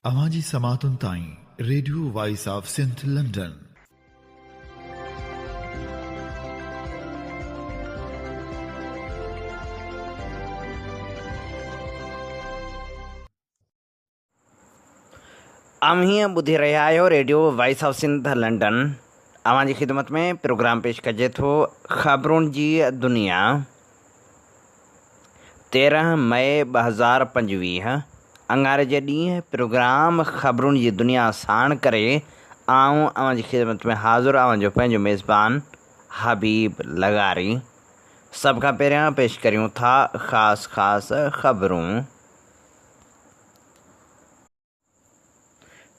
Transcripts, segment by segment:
اوهان جي سماعتن تائين radio voice of Sindh London. اوهين ٻڌي رهيا آهيو radio voice of Sindh London اوهان جي خدمت ۾ پروگرام پيش ڪجي ٿو خبرون جي دنيا. تيرهن مئي ٻه هزار پنجويهه اڱاري جي ڏينهن پروگرام خبرون جي دنيا ساڻ ڪري آئون اوهان جي خدمت ۾ حاضر اوهان جو پنهنجو ميزبان حبيب لغاري سڀ کان پهريان پيش ڪريون ٿا خاص خاص خبرون.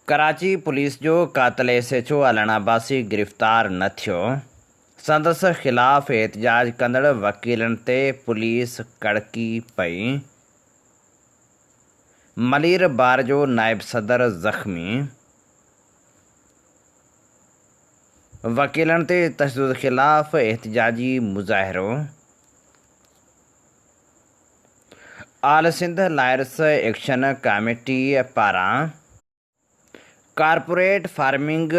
ڪراچي پوليس جو قاتل S H O Allana Abbasi گرفتار نه ٿيو، سندس خلاف احتجاج ڪندڙ وڪيلن تي پوليس ڪڙڪي پئي، ملير بار جو نائب صدر زخمي، وڪيلن تي تشدد خلاف احتجاجي مظاهرو، all Sindh lawyers action committee پاران ڪارپوريٽ فارمنگ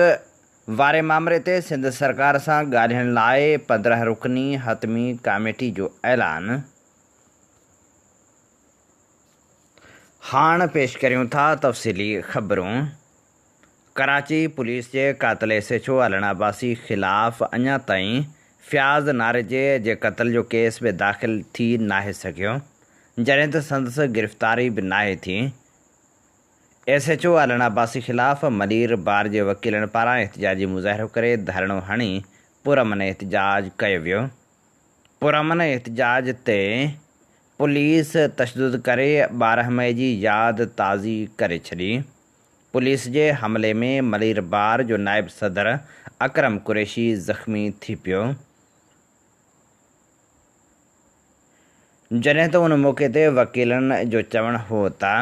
واري مامري تي سنڌ سرڪار سان ڳالهين لاء پندرهن رڪني حتمي ڪاميٽي جو اعلان هاڻ پيش ڪريون ٿا تفصيلي خبرون. ڪراچي، پوليس جي قاتل S H O Allan Abbasi خلاف اڃا تائين فياض ناريجي جي قتل جو ڪيس به داخل ٿي ناهي سگهيو، جڏهن ته سندس گرفتاري به ناهي ٿي. S H O Allan Abbasi خلاف ملير بار جي وڪيلن پاران احتجاجي مظاهرو ڪري ڌرڻو هڻي پرامن احتجاج ڪيو ويو. پرامن احتجاج تي پوليس تشدد ڪري ٻارهن مئي جي ياد تازي ڪري ڇڏي. پوليس جي حملي ۾ ملير بار جو نائب صدر اڪرم قريشي زخمي ٿي پيو، جڏهن ته ان موقعي تي وڪيلن جو چوڻ هو ته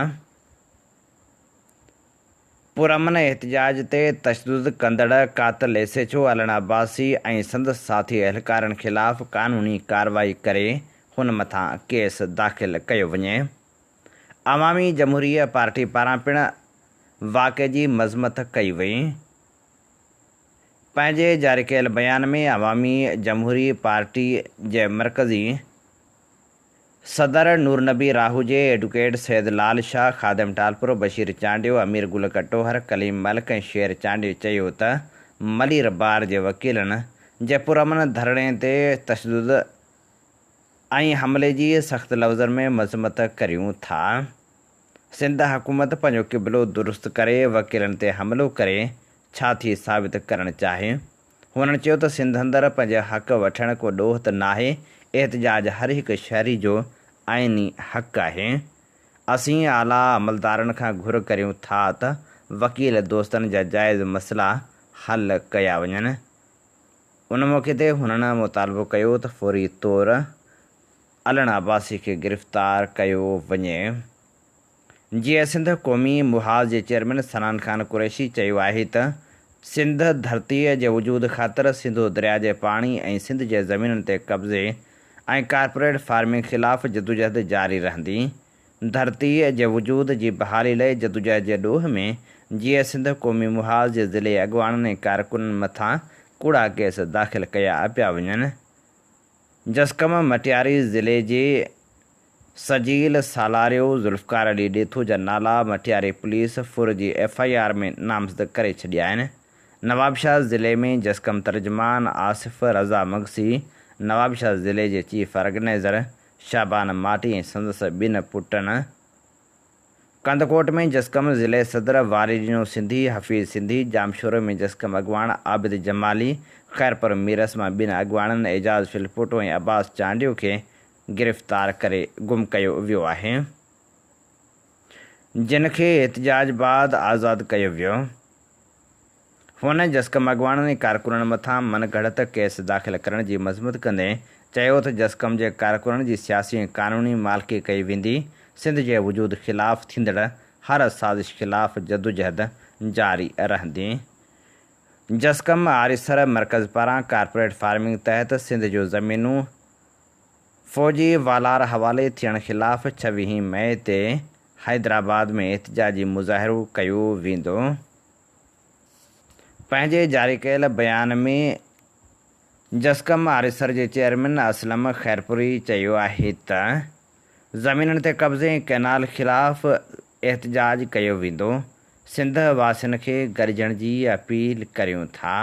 پرامن احتجاج تي تشدد ڪندڙ قاتل S H O Allan Abbasi ۽ سندس ساٿي اهلڪارن خلاف قانوني ڪارروائي ڪري هن مٿان ڪيس داخل ڪيو وڃي. عوامي جمهوريه پارٽي پاران پڻ واقعي جي مذمت ڪئي وئي. پنهنجي جاري ڪيل بيان ۾ عوامي جمهوري پارٽي جي مرڪزي صدر نورنبي راهوجي، ايڊوڪيٽ سيد لال شاهه، خادم ٽالپرو، بشير چانڊيو، امير گل ڪٽوهر، ڪليم ملڪ ۽ شير چانڊيو چيو ته ملير بار جي وڪيلن جي پرامن ڌرڻي تي تشدد، ۽ حملي جي سخت لفظن ۾ مذمت ڪريون ٿا. سنڌ حڪومت پنهنجو قبلو درست ڪري وڪيلن تي حملو ڪري ڇا ٿي ثابت ڪرڻ چاهي؟ هنن چيو ته سنڌ اندر پنهنجي حق وٺڻ ڪو ڏوهه ته ناهي، احتجاج هر هڪ شهري جو آئيني حق آهي. اسين اعليٰ عملدارن کان گهر ڪريون ٿا ته وڪيل دوستن جا جائز مسئلا حل ڪيا وڃن. ان موقعي تي هنن مطالبو ڪيو ته فوري طور علڻ عباسي کي گرفتار ڪيو وڃي جيئن سنڌ قومي محاذ جي چيئرمين سنان خان قريشي چيو آهي ته سنڌ ڌرتي جي وجود خاطر سنڌو درياء جي پاڻي ۽ سنڌ جي زمينن تي قبضي ۽ ڪارپوريٽ فارمنگ خلاف جدوجهد جاري رهندي ڌرتيء جي وجود جي بحالي لئه جدوجهد جي ڏوهه ۾ جيئي سنڌ قومي محاذ جي ضلعي اڳواڻن ۽ ڪارڪنن مٿان ڪوڙا ڪيس داخل ڪيا پيا وڃن. جسقم مٽياري ضلعي جي سجيل سالاريو ذوالفقار علي ڏيٿو جا نالا مٽياري پوليس ڦر جي ايف آء آر ۾ نامزد ڪري ڇڏيا آهن. نوابشاهه ضلعي ۾ جسقم ترجمان آصف رضا مگسي، نوابشاهه ضلعي جي چيف آرگنائيزر شعبان ماٽي ۽ سندس ٻن پٽن ڪنڌڪوٽ ۾ جسقم ضلعي صدر، واري ڏنو سنڌي، حفيظ سنڌي، ڄامشوري ۾ جسقم اڳواڻ عابد جمالي، خيرپور ميرس مان ٻن اڳواڻن اعجاز ڦلپوٽو ۽ عباس چانڊيو کي گرفتار ڪري گم ڪيو ويو آهي، جن کي احتجاج بعد آزاد ڪيو ويو. هن جسقم اڳواڻن ۽ ڪارڪنن مٿان من گهڙت ڪيس داخل ڪرڻ جي مذمت ڪندي چيو ته جسقم جي ڪارڪنن جي سياسي ۽ قانوني مالڪي ڪئي ويندي، سنڌ جي وجود خلاف ٿيندڙ هر سازش خلاف جدوجهد جاري رهندي. جسقم آريسر مرڪز پاران ڪارپوريٽ فارمنگ تحت سنڌ جون زمينون فوجي والار حوالي ٿيڻ خلاف ڇويهين مئي تي حيدرآباد ۾ احتجاجي مظاهرو ڪيو ويندو. پنهنجي جاري ڪيل بيان ۾ جسقم آريسر جي چيئرمين اسلم خيرپوري چيو آهي ته زمينن تي قبضي ۽ ڪئنال خلاف احتجاج ڪيو ويندو، سنڌ واسين کي گڏجڻ جي اپيل ڪريون ٿا.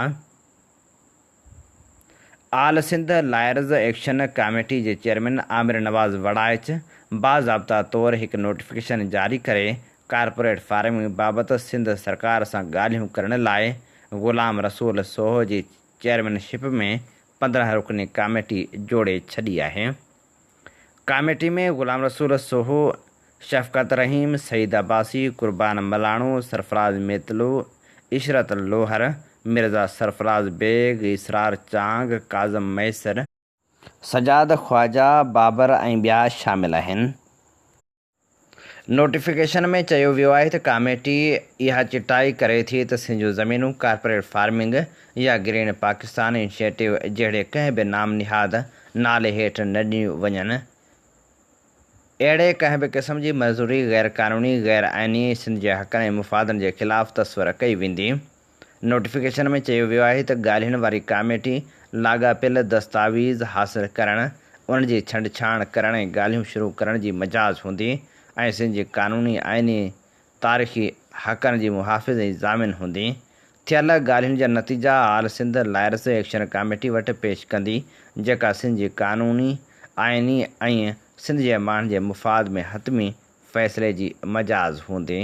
All Sindh lawyers action committee جي چيئرمين عامر نواز وڙائچ باضابطا طور هڪ نوٽيفڪيشن جاري ڪري ڪارپوريٽ فارمنگ بابت سنڌ سرڪار سان ڳالهيون ڪرڻ لاء غلام رسول سوهو جي چيئرمين شپ ۾ پندرهن رڪني ڪاميٽي جوڙي ڇڏي آهي. ڪاميٽي ۾ غلام رسول سوهو، شفقت رحيم، سعيد عباسي، قربان ملاڻو، سرفراز ميتلو، عشرت لوهر، مرزا سرفراز بيگ، اسرار چانگ، ڪاظم ميسر، سجاد خواجا، بابر ۽ ٻيا شامل آهن. نوٽيفڪيشن ۾ چيو ويو آهي ته ڪاميٽي اها چٽائي ڪري ٿي ته سنڌ جون زمينون ڪارپوريٽ فارمنگ يا گرين پاڪستان انشيٽو جهڙي ڪنهن به نام نهاد نالي هيٺ نه ڏنيون وڃن اهڙي ڪنهن به قسم جي مزوري غيرقانوني، غيرآئيني، سنڌ جي حقن ۽ مفادن جي خلاف تصور ڪئي ويندي. نوٽيفڪيشن ۾ چيو ويو آهي ته ڳالهين واري ڪاميٽي لاڳاپيل دستاويز حاصل ڪرڻ، ان جي ڇنڊڇاڻ ڪرڻ ۽ ڳالهيون شروع ڪرڻ جي مجاز هوندي ۽ سنڌ جي قانوني، آئيني، تاريخي حقن جي محافظ ۽ ضامن هوندي. ٿيل ڳالهين جا نتيجا all Sindh lawyers action committee وٽ پيش ڪندي، جيڪا سنڌ جي قانوني، آئيني ۽ سنڌ جي ماڻهن جي مفاد ۾ حتمي فيصلي جي مجاز هوندي.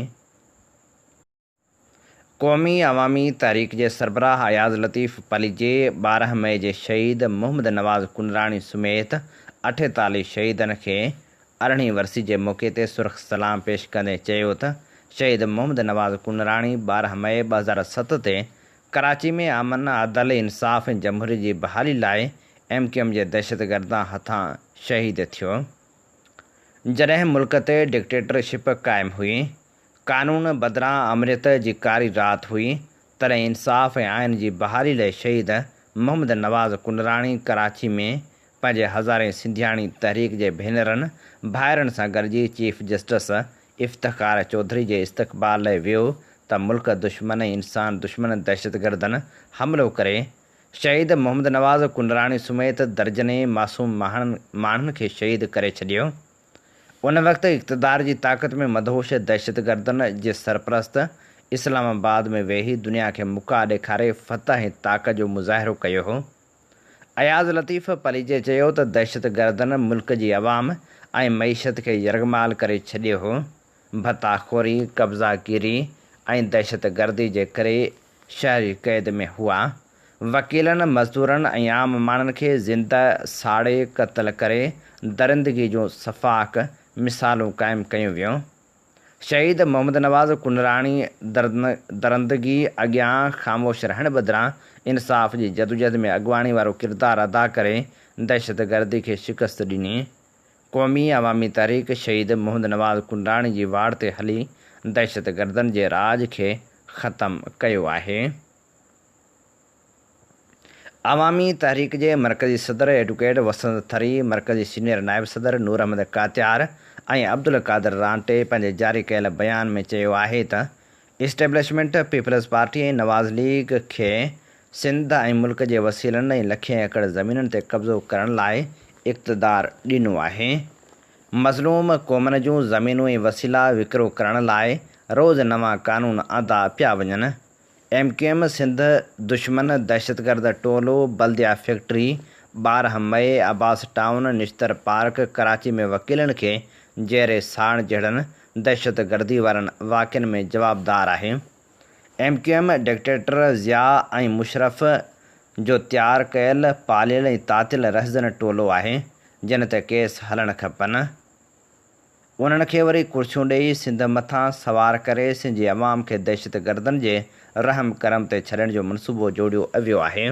قومي عوامي تحريڪ جي سربراهه اياز لطيف پليجي ٻارهن مئي جي شهيد محمد نواز ڪنراڻي سميت اٺيتاليهه شهيدن کي ارڙهين ورسي جي موقعي تي سرخ سلام پيش ڪندي چيو ته شهيد محمد نواز ڪنراڻي ٻارهن مئي ٻه هزار ست تي ڪراچي ۾ امن، عدل، انصاف ۽ جمهوريت جي بحالي لاء ايم ڪيو ايم جي دهشتگردان هٿان شهيد ٿيو جڏهن ملڪ تي ڊڪٽيٽر شپ قائم هئي. قانون بدران آمريت جي ڪاري رات هئي، تڏهن انصاف ۽ آئين جي بحالي لئه شهيد محمد نواز ڪنراڻي ڪراچي ۾ پنهنجي هزارين سنڌياڻي تحريڪ جي ڀينرن ڀائرن سان گڏجي چيف جسٽس افتخار چوڌري جي استقبال لئه ويو ته ملڪ دشمن ۽ انسان دشمن دهشتگردن حملو ڪري شهيد محمد نواز ڪنراڻي سميت درجنين معصوم ماڻهن کي شهيد ڪري ڇڏيو. ان وقت اقتدار جي طاقت ۾ مدهوش دهشتگردن جي سرپرست اسلام آباد ۾ ويهي دنيا کي مڪا ڏيکاري فتح ۽ طاقت جو مظاهرو ڪيو هو. اياز لطيف پليجي چيو ته دهشتگردن ملڪ جي عوام ۽ معيشت کي يرغمال ڪري ڇڏيو هو. ڀتا خوري، قبضا گيري ۽ دهشتگردي جي ڪري شهري قيد ۾ هئا. وڪيلن، مزدورن ۽ عام ماڻهن کي زنده ساڙي قتل ڪري درندگي جون سفاڪ مثالون قائم ڪيون ويون. شهيد محمد نواز ڪنراڻي درندگي اڳيان خاموش رهڻ بدران انصاف جي جدوجهد ۾ اڳواڻي وارو ڪردار ادا ڪري دهشتگردي کي شڪست ڏني. قومي عوامي تحريڪ شهيد محمد نواز ڪنڊاڻي جي واڙ تي هلي دهشتگردن جي راڄ کي ختم ڪيو آهي. عوامي تحريڪ جي مرڪزي صدر ايڊوڪيٽ وسند ٿري، مرڪزي سينيئر نائب صدر نور احمد ڪاتيار ۽ عبدالقادر رانٽي پنهنجي جاري ڪيل بيان ۾ چيو آهي ته establishment, Peoples Party ۽ Nawaz League کي سنڌ ۽ ملڪ جي وسيلن ۽ لکين ايڪڙ زمينن تي قبضو ڪرڻ لاء اقتدار ڏنو آهي. مظلوم قومن جون زمينون ۽ وسيلا وڪرو ڪرڻ لاء روز نوان قانون آندا پيا وڃن. ايم ڪيو ايم سنڌ دشمن دهشتگرد ٽولو بلديا فيڪٽري، ٻارهن مئي، عباس ٽائون، نشتر پارڪ، ڪراچي ۾ وڪيلن کي جيئري ساڙڻ جهڙن دهشتگردي وارن واقعن ۾ جوابدار آهي، M Q M dictator Zia ۽ Musharraf جو تيار ڪيل پاليل ۽ تاتيل رهزن ٽولو آهي، جن تي ڪيس هلڻ کپن، انهن کي وري ڪرسيون ڏيئي سنڌ مٿان سوار ڪري سنڌ جي عوام کي دهشتگردن جي رحم ڪرم تي ڇڏڻ جو منصوبو جوڙيو ويو آهي.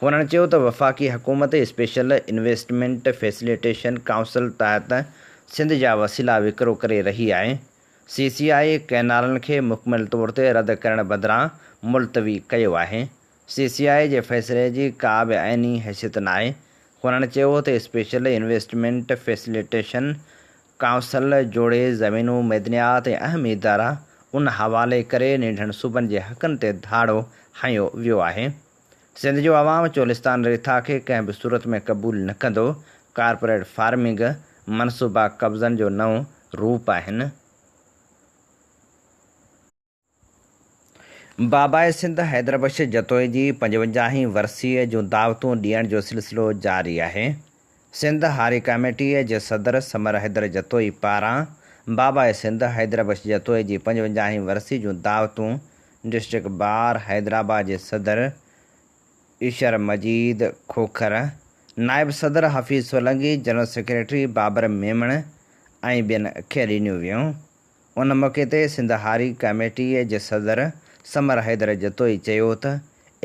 هن چيو ته وفاقي حڪومت اسپيشل انويسٽمينٽ فيسليٽيشن ڪائونسل تحت سنڌ جا وسيلا وڪرو ڪري رهي آهي، سي سي آء ڪئنالن کي مڪمل طور تي رد ڪرڻ بدران ملتوي ڪيو آهي، سي سي آء جي فيصلي جي ڪا به آئيني حيثيت ناهي، هن چيو ته اسپيشل انويسٽمينٽ فيسليٽيشن ڪائونسل جوڙي زمينون، معدنيات ۽ اهم ادارا ان حوالي ڪري ننڍن صوبن جي حقن تي ڌاڙو هنيو ويو آهي. سنڌ جو عوام چولستان ريٿا کي ڪنهن به صورت ۾ قبول نه ڪندو. ڪارپوريٽ فارمنگ، منصوبا قبضن جو نئون روپ آهن. باباء سنڌ حيدربخش جتوئي جي پنجونجاهين ورسيء جون دعوتون ڏيڻ جو سلسلو جاري آهي. سنڌ هاري ڪاميٽيء جي صدر سمر حيدر جتوئي پاران باباء سنڌ حيدربخش جتوئي جي پنجونجاهين ورسيء جون دعوتون ڊسٽرڪٽ بار حيدرآباد جي صدر ايشر مجيد کوکر، نائب صدر حفيظ سولنگي، جنرل سيڪريٽري بابر ميمڻ ۽ ٻين کي ڏنيون ويون. ان موقعي تي سنڌ هاري ڪاميٽيء جي صدر سمر حيدر جتوئي چيو ته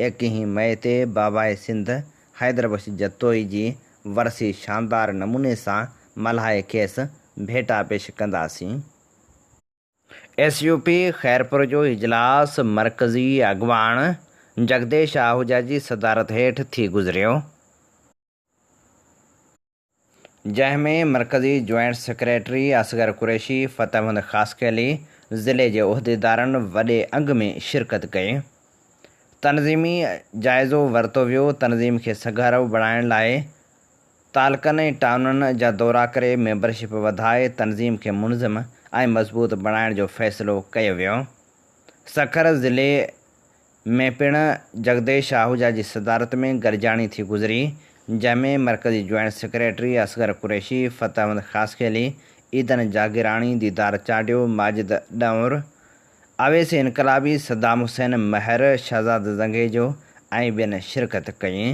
ايڪيهين مئي تي باباء سنڌ حيدر بخش جتوئي جي ورسي شاندار نموني سان ملهائي کيس ڀيٽا پيش ڪنداسين. ايس يو پي خيرپور جو اجلاس مرڪزي اڳواڻ جڳديش آهوجا جي صدارت هيٺ ٿي گذريو. جنهن ۾ مرڪزي جوائنٽ سيڪريٽري اصغر قريشي، فتح مند خاصخيلي، ضلعي جي عهديدارن وڏي انگ ۾ شرڪت ڪئي. تنظيمي جائزو ورتو ويو، تنظيم کي سگهارو بڻائڻ لاء تعلقن ۽ ٽائونن جا دورا ڪري ميمبرشپ وڌائي تنظيم کي منظم ۽ مضبوط بڻائڻ جو فيصلو ڪيو ويو. سکر ضلعي ۾ پڻ جڳديش آهوجا جي صدارت ۾ گڏجاڻي ٿي گذري، جنهن ۾ مرڪزي جوائنٽ سيڪريٽري اصغر قريشي، فتح احمد خاصخيلي، عيدن جاگيراڻي، ديدار چانڊيو، ماجد ڏنور، اويس انقلابي، صدام حسين مهر، شهزاد زنگيجو ۽ ٻين شرڪت ڪئي.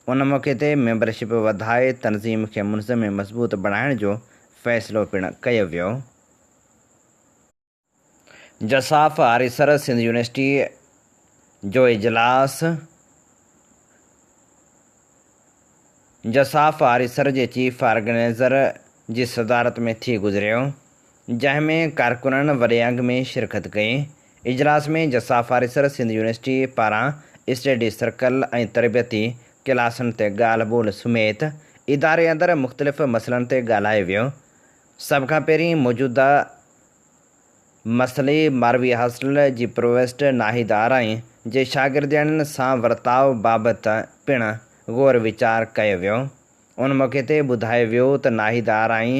ان موقعي تي ميمبرشپ وڌائي تنظيم کي منظم ۽ مضبوط بڻائڻ جو فيصلو پڻ ڪيو ويو. جساف آريسر سنڌ يونيورسٽي جو اجلاس جساف آريسر جي چيف آرگنائيزر جي صدارت ۾ ٿي گذريو جنهن ۾ ڪارڪنن وڏي انگ ۾ شرڪت ڪئي اجلاس ۾ جساف آريسر سنڌ يونيورسٽي پاران اسٽيڊي سرڪل ۽ تربيتي ڪلاسن تي ڳالهه ٻولهه سميت اداري اندر مختلف مسئلن تي ڳالهايو ويو سڀ کان پهرين موجوده مسئلي ماروي هاسٽل جي پرووسٽ ناهيد آرائي جي شاگردياڻين سان ورتاء بابت پڻ غور ويچار ڪيو ويو. ان موقعي تي ٻڌايو ويو ته ناهيد آرائي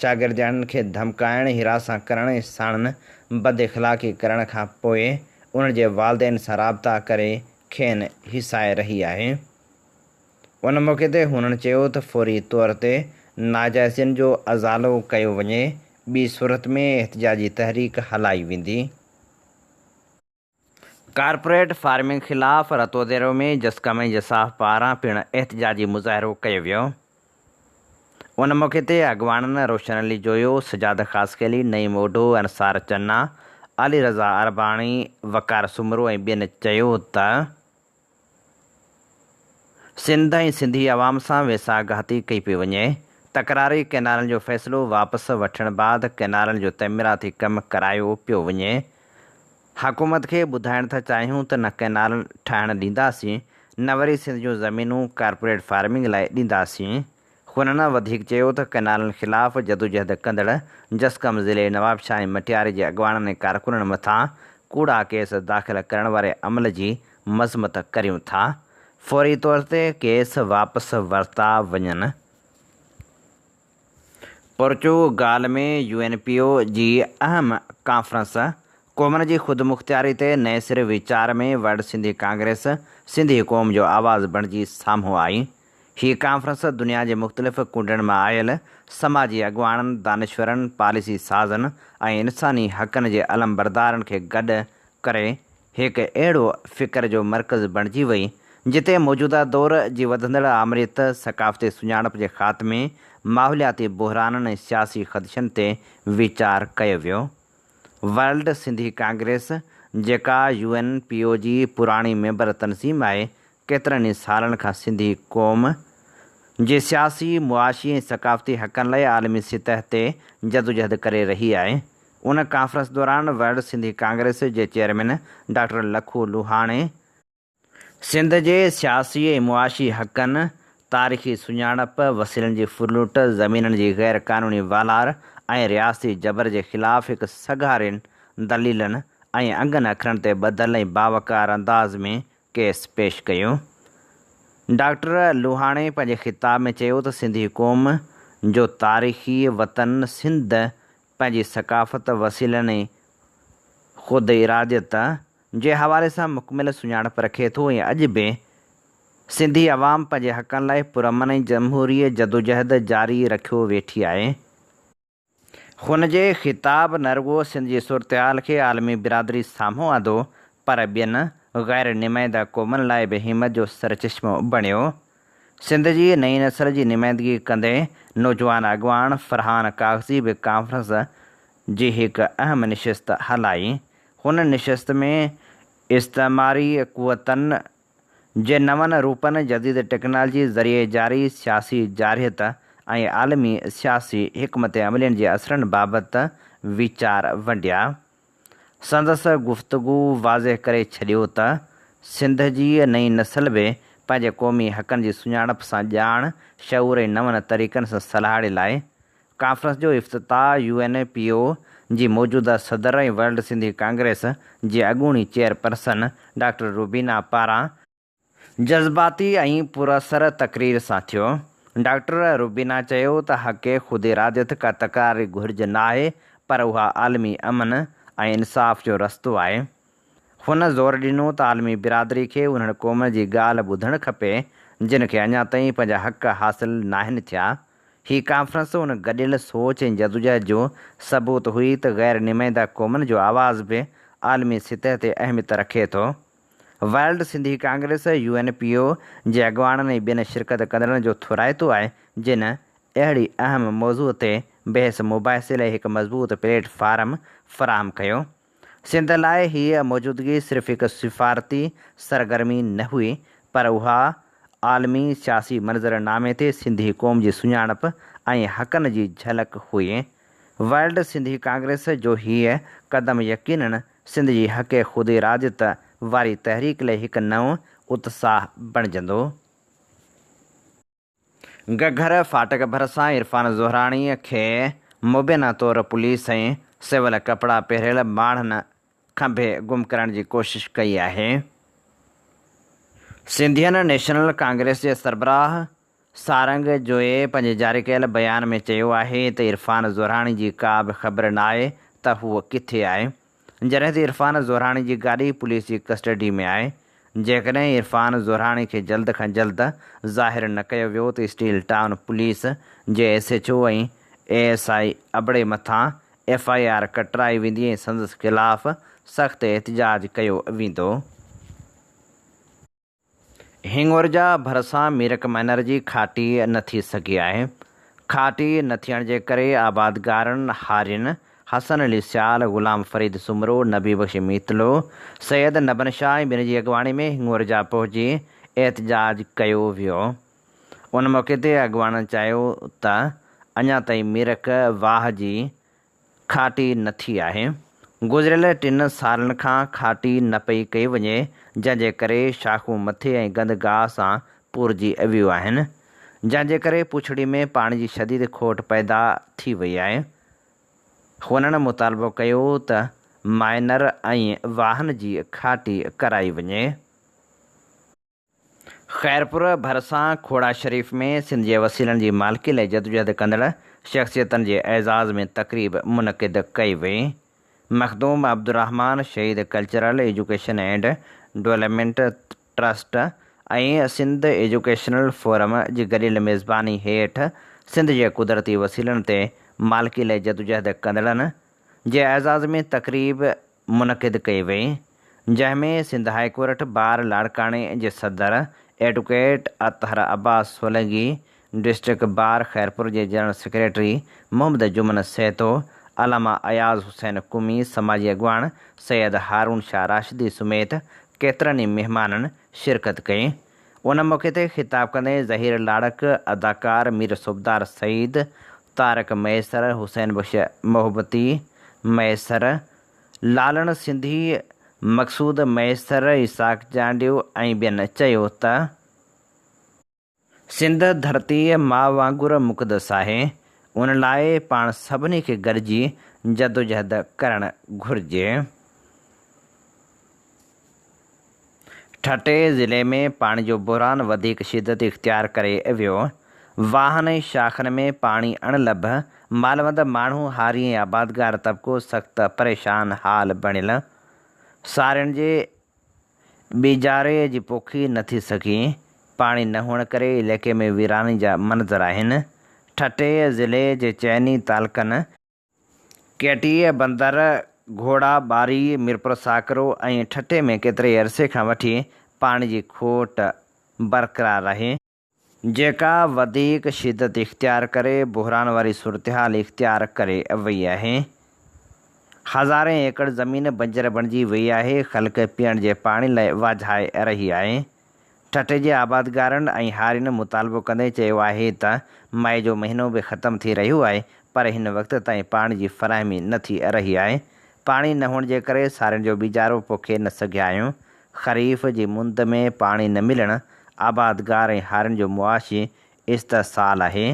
شاگردياڻين کي ڌمڪائڻ، هراسان ڪرڻ ۽ ساڻن بداخلاقي ڪرڻ کان پوء انهن جي والدين سان رابطا ڪري کين هيسائي رهي آهي. ان موقعي تي هنن چيو ته فوري طور تي ناجائزين جو ازالو ڪيو وڃي ٻي صورت ۾ احتجاجي تحريڪ هلائي ويندي. ڪارپوريٽ فارمنگ خلاف رتوديرو ۾ جسقم ۽ جساف پاران پڻ احتجاجي مظاهرو ڪيو ويو ان موقعي تي اڳواڻن روشن علي جويو، سجاد خاصخيلي، نعيم اوڍو، انصار چنا، علي رضا عرباڻي، وقار سومرو ۽ ٻين چيو ته. سنڌ ۽ سنڌي عوام سان ويساهه گهاتي ڪئي پئي وڃي، تڪراري ڪئنالن جو فيصلو واپس وٺڻ بعد ڪئنالن جو تعميراتي ڪم ڪرايو پيو وڃي، حڪومت کي ٻڌائڻ ٿا چاهيون ته نه ڪئنال ٺاهڻ ڏينداسين نه وري سنڌ جون زمينون ڪارپوريٽ فارمنگ لاء ڏينداسين. هن وڌيڪ چيو ته ڪئنالن خلاف جدوجهد ڪندڙ جسقم ضلعي نوابشاهه ۽ مٽياري جي اڳواڻن ۽ ڪارڪنن مٿان ڪوڙا ڪيس داخل ڪرڻ واري عمل جي مذمت ڪريون ٿا فوري طور تي ڪيس واپس ورتا وڃن. Portugal ۾ U N P O جي اهم ڪانفرنس، قومن جي خودمختياري تي نئين سر ويچار ۾ ورلڊ سنڌي ڪانگريس سنڌي قوم جو آواز بڻجي سامهون آئي، هيء ڪانفرنس دنيا جي مختلف ڪونڊن مان آيل سماجي اڳواڻن، دانشورن، پاليسي سازن ۽ انساني حقن جي علمبردارن کي گڏ ڪري هڪ اهڙو فڪر جو مرڪز بڻجي وئي، جتي موجوده دور جي وڌندڙ آمريت، ثقافتي سڃاڻپ جي خاتمي، ماحولياتي بحرانن ۽ سياسي خدشن تي ويچار ڪيو ويو. ورلڊ سنڌي ڪانگريس، جيڪا يو اين پي او جي پراڻي ميمبر تنظيم آهي، ڪيترن ئي سالن کان سنڌي قوم جي سياسي، معاشي ۽ ثقافتي حقن لاء عالمي سطح تي جدوجهد ڪري رهي آهي. ان ڪانفرنس دوران ورلڊ سنڌي ڪانگريس جي چيئرمين ڊاڪٽر لکو لوهاڻي، سنڌ جي سياسي ۽ معاشي حقن، تاريخي سڃاڻپ، وسيلن جي ڦرلٽ، زمينن جي غير قانوني والار ۽ رياستي جبر جي خلاف هڪ سگهارين دليلن ۽ انگن اکرن تي ٻڌل ۽ باوقار انداز ۾ ڪيس پيش ڪيو. ڊاڪٽر لوهاڻي پنهنجي خطاب ۾ چيو ته سنڌي قوم جو تاريخي وطن سنڌ پنهنجي ثقافت، وسيلن ۽ خوداراديت جي حوالي سان مڪمل سڃاڻپ رکي ٿو ۽ اڄ به سنڌي عوام پنهنجي حقن لاء پرامن ۽ جمهوري جدوجهد جاري رکيو ويٺي آهي. هن جي خطاب نه رڳو سنڌ جي صورتحال کي عالمي برادري سامهون آندو پر ٻين غير نمائنده قومن لاء به همت جو سرچشمو بڻيو. سنڌ جي نئين نسل جي نمائندگي ڪندي نوجوان اڳواڻ فرحان ڪاغذي به ڪانفرنس جي هڪ اهم نشست هلائي. هن نشست ۾ استعماري قوتن، جي نون روپن، جديد ٽيڪنالجي ذريعي جاري سياسي جارحيت ۽ عالمي سياسي حڪمت عملين جي اثرن بابت ويچار ونڊيا. سندس گفتگو واضح ڪري ڇڏيو ته سنڌ جي نئين نسل به پنهنجي قومي حقن جي سڃاڻپ سان ڄاڻ، شعور ۽ نون طريقن سان سلهاڙي لاء ڪانفرنس جو افتتاح U N A P O جي موجوده صدر ۽ ورلڊ سنڌي ڪانگريس جي اڳوڻي چيئرپرسن ڊاڪٽر روبينا پاران جذباتي ۽ پراثر تقرير سان ٿيو. ڊاڪٽر روبينا چيو ته حق خوداراديت ڪا تڪراري گهرج ناهي پر اها عالمي امن ۽ انصاف جو رستو آهي. هن زور ڏنو ته عالمي برادري کي انهن قومن جي ڳالهه ٻڌڻ کپي، جن کي اڃا تائين پنهنجا حق حاصل ناهن ٿيا. هي ڪانفرنس ان گڏيل سوچ ۽ جدوجهد جو ثبوت هئي ته غير نمائنده قومن جو آواز به عالمي سطح تي اهميت رکي ٿو. World Sindhi congress, U N P O, جي اڳواڻن ۽ ٻين شرڪت ڪندڙن جو ٿورائتو آهي، جن اهڙي اهم موضوع تي بحث مباحثي لاء هڪ مضبوط پليٽ فارم فراهم ڪيو. سنڌ لاء هيء موجودگي صرف هڪ سفارتي سرگرمي نه هئي، پر اها عالمي سياسي منظرنامي تي سنڌي قوم جي سڃاڻپ ۽ حقن جي جهلڪ هئي. ورلڊ سنڌي ڪانگريس جو هيء قدم يقينن سنڌ جي حق خوداراديت واري تحريڪ لئي هڪ نئون اتساهه بڻجندو. گهگهر ڦاٽڪ ڀرسان عرفان زهراڻي کي مبينا طور پوليس ۽ سول ڪپڙا پهريل ماڻهن کنڀي گم ڪرڻ جي ڪوشش ڪئي آهي. سنڌين نيشنل ڪانگريس جي سربراهه سارنگ جويي پنهنجي جاري ڪيل بيان ۾ چيو آهي ته عرفان زهراڻي جي ڪا به خبر ناهي ته هو ڪٿي آهي. جڏهن ته عرفان زوراڻي جي گاڏي پوليس جي ڪسٽڊي ۾ آهي، جيڪڏهن عرفان زوراڻي کي جلد کان جلد ظاهر نه ڪيو ويو ته اسٽيل ٽائون پوليس جي S H O ۽ A S I ابڙي مٿان ايف آء آر ڪٽرائي ويندي ۽ سندس خلاف سخت احتجاج ڪيو ويندو. هينگورجا ڀرسان ميرڪ مئنر جي کاٽي نه ٿي سگهي آهي. کاٽي نه ٿيڻ جي ڪري آبادگارن هارين، حسن علي سيال، غلام فريد سومرو، نبي بخش ميتلو، سيد نبن شاهه ۽ ٻين جي اڳواڻي ۾ هينگورجا پهچي احتجاج ڪيو ويو. ان موقعي تي اڳواڻن چيو ته اڃا تائين ميرڪ واهه جي کاٽي نه ٿي آهي. گذريل ٽن سالن کان کاٽي نه پئي ڪئي وڃي، جنهن جي ڪري شاخون مٿي ۽ گند گاهه سان پورجي ويون آهن، جنهن جي ڪري پڇڙي ۾ پاڻي جي شديد کوٽ پيدا ٿي وئي آهي. هنن مطالبو ڪيو ته مائنر ۽ واهن جي کاٽي ڪرائي وڃي. خيرپور ڀرسان کوڙا شريف ۾ سنڌ جي وسيلن جي مالڪي لاء جدوجهد ڪندڙ شخصيتن جي اعزاز ۾ تقريب منعقد ڪئي وئي، Makhdoom Abdul Rehman Shaheed cultural education and development trust ۽ Sindh educational forum جي گڏيل ميزباني هيٺ سنڌ جي قدرتي وسيلن تي مالڪي لاء جدوجهد ڪندڙن جي اعزاز ۾ تقريب منعقد ڪئي وئي، جنهن ۾ سنڌ هاء ڪورٽ بار لاڙڪاڻي جي صدر advocate Athar Abbas Solangi, district bar Khairpur جي جنرل سيڪريٽري محمد جمن سهتو، علامه اياز حسين قمي، سماجي اڳواڻ سيد هارون شاهه راشدي سميت ڪيترن ئي مهمانن شرڪت ڪئي. ان موقعي تي خطاب ڪندي ظهير لاڙڪ، اداڪار مير صوبدار سعيد، تارڪ ميسر، حسين بخش محبتي ميسر، لالڻ سنڌي، مقصود ميسر، اسحاق چانڊيو ۽ ٻين چيو ته سنڌ ڌرتي ماء وانگر مقدس آهي ان لاء پاڻ سڀني کي گڏجي جدوجهد ڪرڻ گهرجي. ٺٽي ضلعي ۾ پاڻي جو بحران وڌيڪ شدت اختيار ڪري ويو، واهن ۽ شاخن ۾ پاڻي اڻ لڀ، مالوند ماڻهو هاري ۽ آبادگار طبقو سخت پريشان حال بڻيل، سارين جي ٻيجاري جي پوکي نه ٿي سگهي، پاڻي نه هئڻ ڪري علائقي ۾ ويراني جا منظر آهن، ٺٽي ضلعي جي چئني تعلقن. ڪيٽيء بندر، گهوڙا ٻاري، ميرپور ساڪرو ۽ ٺٽي ۾ ڪيتري عرصي کان وٺي پاڻي جي کوٽ برقرار رهي، جيڪا وڌيڪ شدت اختيار ڪري بحران واري صورتحال اختيار ڪري وئي آهي، هزارين ايڪڙ زمين بنجر بڻجي وئي آهي، خلق پيئڻ جي پاڻي لاء واجهائي رهي آهي، ٺٽي جي آبادگارن ۽ هارين مطالبو ڪندي چيو آهي ته مئي جو مهينو به ختم ٿي رهيو آهي پر هن وقت تائين پاڻي جي فراهمي نه ٿي رهي آهي، پاڻي نه هئڻ جي ڪري سارين جو ٻيجارو پوکي نه سگهيا آهيون، خريف جي مند ۾ پاڻي نه ملڻ آبادگار ۽ هارين جو معاشي استحصال آهي،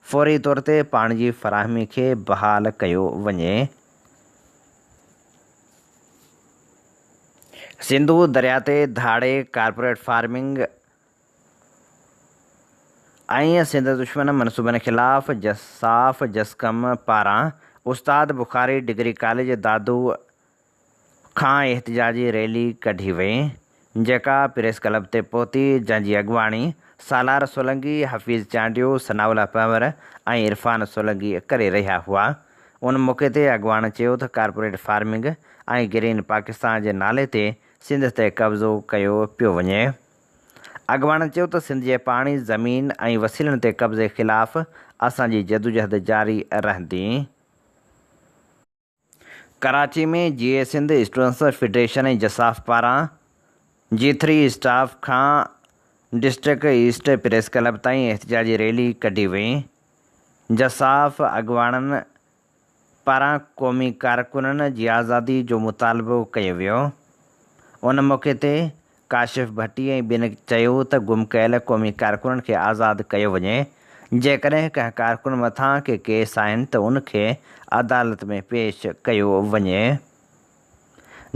فوري طور تي پاڻي جي فراهمي کي بحال ڪيو وڃي. سنڌو درياء تي ڌاڙي، ڪارپوريٽ فارمنگ ۽ سنڌ دشمن منصوبن خلاف جساف جسقم پاران استاد بخاري ڊگري ڪاليج دادو کان احتجاجي ريلي ڪڍي وئي، جيڪا پريس ڪلب تي پهتي، جنهن جي اڳواڻي سالار سولنگي، حفيظ چانڊيو، ثناء الله پنهور ۽ عرفان سولنگي ڪري رهيا هئا. ان موقعي تي اڳواڻ چيو ته ڪارپوريٽ فارمنگ ۽ گرين پاڪستان جي نالي تي سنڌ تي قبضو ڪيو پيو وڃي. اڳواڻن چيو ته سنڌ جي پاڻي، زمين ۽ وسيلن تي قبضي خلاف اسان جي جدوجهد جاري رهندي. ڪراچي ۾ جي اي سنڌ اسٽوڊنٽس فيڊريشن ۽ جساف پاران جي ٿري اسٽاف کان ڊسٽرڪٽ ايسٽ پريس ڪلب تائين احتجاجي ريلي ڪڍي وئي. جساف اڳواڻن پاران قومي ڪارڪنن جي آزادي جو مطالبو ڪيو ويو. ان موقعي تي ڪاشف ڀٽي ۽ ٻين چيو ته گم ڪيل قومي ڪارڪنن کي آزاد ڪيو وڃي، جيڪڏهن ڪنهن ڪارڪن مٿان ڪي ڪيس آهن ته ان کي عدالت ۾ پيش ڪيو وڃي.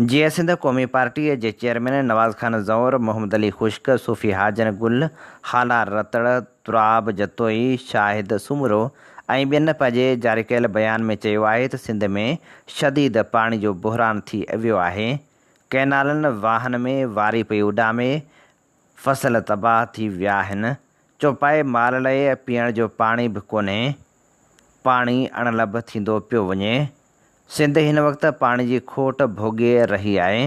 جيئن سنڌ قومي پارٽيء جي چيئرمين نواز خان زئور، محمد علي خشڪ، صوفي حاجن گل، هالا رتڙ، تراب جتوئي، شاهد سومرو ۽ ٻين پنهنجي جاري ڪيل بيان ۾ چيو آهي ته سنڌ ۾ شديد پاڻي جو بحران ٿي ويو آهي، ڪئنالن واهن ۾ واري پئي اڏامي، فصل تباهه ٿي ويا آهن، چوپائي مال لئه پيئڻ جو پاڻي به ڪونهي، پاڻي اڻ لڀ ٿيندو پيو وڃي، سنڌ هن وقت پاڻي جي کوٽ ڀوڳي رهي آهي،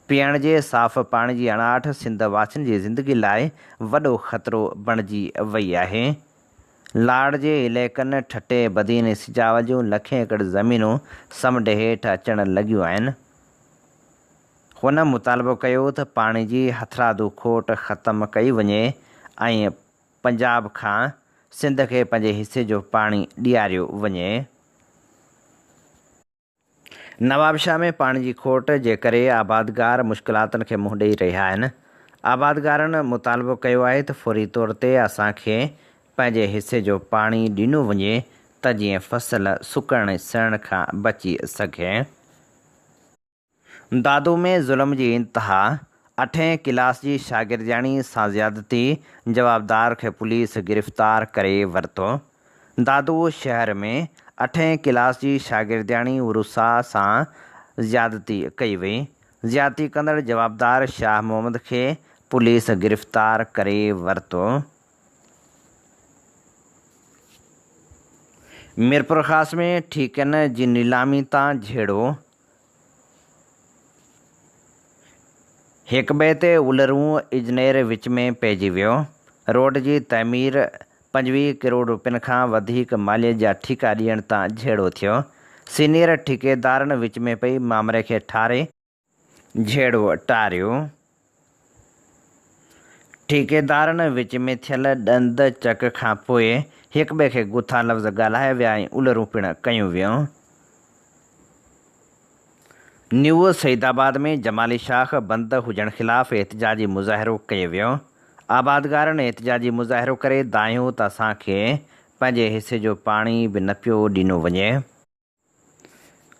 پيئڻ جي صاف پاڻي جي اڻاٺ سنڌ واسين جي زندگي لاء وڏو خطرو بڻجي وئي آهي، لاڙ جي عليقن ٺٽي، بدين ۽ سجاول جون لکين ايڪڙ زمينون سمنڊ هيٺ اچڻ لڳيون آهن. هن مطالبو ڪيو ته پاڻي جي هٿرادو کوٽ ختم ڪئي وڃي ۽ پنجاب کان سنڌ کي پنهنجي حصي جو پاڻي ڏياريو وڃي. نوابشاهه ۾ پاڻي جي کوٽ جي ڪري آبادگار مشڪلاتن کي منهن ڏئي رهيا آهن. آبادگارن مطالبو ڪيو آهي ته فوري طور تي اسان کي پنهنجي حصي جو پاڻي ڏنو وڃي ته جيئن فصل سڪڻ سهڻ کان بچي سگهي. دادو ۾ ظلم جي انتها، اٺين ڪلاس جي شاگردياڻي سان زيادتي، جوابدار کي پوليس گرفتار ڪري ورتو. دادو شهر ۾ اٺين ڪلاس جي شاگردياڻي عروسا سان زيادتي ڪئي وئي، زيادتي ڪندڙ جوابدار شاهه محمد کي پوليس گرفتار ڪري ورتو. ميرپورخاص ۾ ٺيڪن جي نيلامي تان جهيڙو، هڪٻئي تي اولرون اجنير وچ ۾ پئجي ويو. روڊ جي تعمير پنجويهه ڪروڙ روپين کان وڌيڪ ماليت جا ٺيڪا ڏيڻ تان جهيڙو ٿيو. سينيئر ٺيڪيدارن وچ ۾ پئي مامري کي ٺاري. جهيڙو ٽاريو ٺيڪيدارن وچ ۾ ٿيل ڏند چڪ کانپوء هڪٻئي کي گٿا لفظ ڳالهايا ويا ۽ الرون پڻ ڪيون ويون. نيوسعيدآباد ۾ جمالي شاخ بند هجڻ خلاف احتجاجي مظاهرو ڪيو ويو. آبادگارن احتجاجي مظاهرو ڪري دانهيو ته اسان کي پنهنجي حصي جو پاڻي به نه پيو ڏنو وڃي.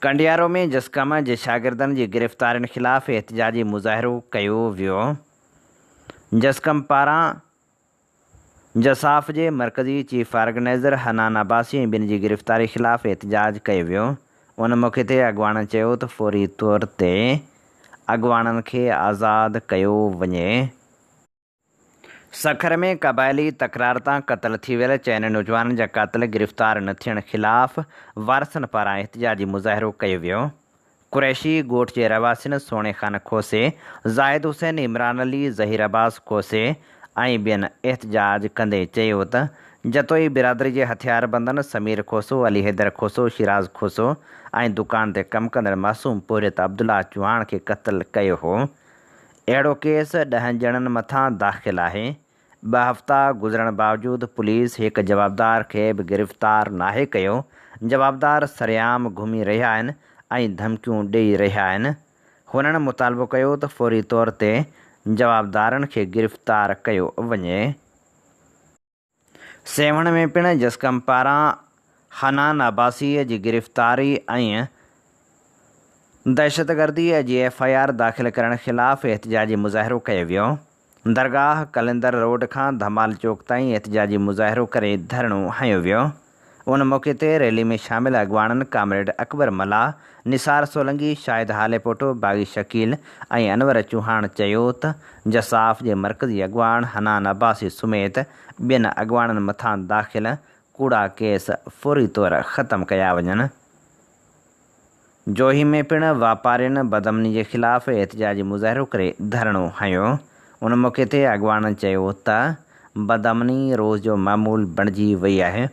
ڪنڊيارو ۾ جسقم جي شاگردن جي گرفتارين خلاف احتجاجي مظاهرو ڪيو ويو، جسقم پاران جساف جي مرڪزي چيف آرگنائيزر حنان عباسي ۽ ٻين جي گرفتاري خلاف احتجاج ڪيو ويو، ان موقعي تي اڳواڻن چيو ته فوري طور تي اڳواڻن کي آزاد ڪيو وڃي. سکر ۾ قبائلي تڪرار تان قتل ٿي ويل چئن نوجوانن جا قاتل گرفتار نه ٿيڻ خلاف وارثن پاران احتجاجي مظاهرو ڪيو ويو. قريشي ڳوٺ جي رهواسين سهڻي خان کوسي، زاهد حسين، عمران علي، ظهير عباس کوسي ۽ ٻين احتجاج ڪندي چيو ته جتوئي برادري جي هٿياربندن سمير کوسو، علي حيدر کوسو، شيراز کوسو ۽ دڪان تي ڪم ڪندڙ معصوم پورهيت عبدالله چوهاڻ کي قتل ڪيو هو. اهڙو ڪيس ڏهن ڄڻن مٿان داخل آهي، ٻه هفتا گذرڻ باوجود پوليس هڪ جوابدار کي به گرفتار ناهي ڪيو، جوابدار سرعام گهمي رهيا آهن ۽ ڌمڪيون ڏئي رهيا آهن، هنن مطالبو ڪيو ته فوري طور تي جوابدارن کي گرفتار ڪيو وڃي. سيوهڻ ۾ پڻ جسقم پاران حنان عباسيء جي گرفتاري ۽ دهشتگرديء جي ايف آء آر داخل ڪرڻ خلاف احتجاجي مظاهرو ڪيو ويو. درگاهه قلندر روڊ کان ڌمال چوڪ تائين احتجاجي مظاهرو ڪري ڌرڻو هنيو ويو. ان موقعي تي ريلي ۾ شامل اڳواڻن ڪامريڊ اڪبر ملاح، نثار سولنگي، شاهد هاليپوٽو، باغي شڪيل ۽ انور چوهاڻ چيو ته جساف جي مرڪزي اڳواڻ حنان عباسي سميت ٻين اڳواڻن مٿان داخل ڪوڙا ڪيس فوري طور ختم ڪيا وڃن. جوهي ۾ پڻ واپارين بدامني جي خلاف احتجاجي مظاهرو ڪري ڌرڻو هنيو، ان موقعي تي اڳواڻن چيو ته بدامني روز جو معمول بڻجي وئي آهي،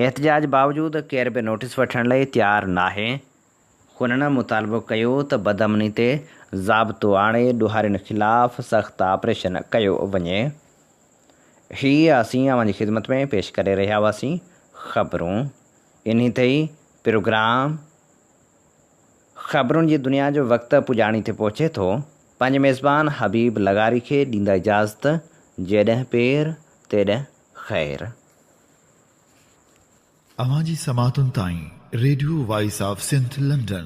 احتجاج باوجود ڪير به نوٽيس وٺڻ لئي تيار ناهي، هنن مطالبو ڪيو ته بدامني تي ضابطو آڻي ڏوهارين خلاف سخت آپريشن ڪيو وڃي، هي اسين اوهان جي خدمت ۾ پيش ڪري رهيا هئاسين، خبرون انهي تي ئي پروگرام خبرن جي دنيا جو وقت پڄاڻي تي پهچي ٿو. پنهنجي ميزبان حبيب لغاري کي ڏيندا اجازت، جيڏهن پير تيڏهن خير. اوهان جي سماعتن تائين radio voice of Sindh London.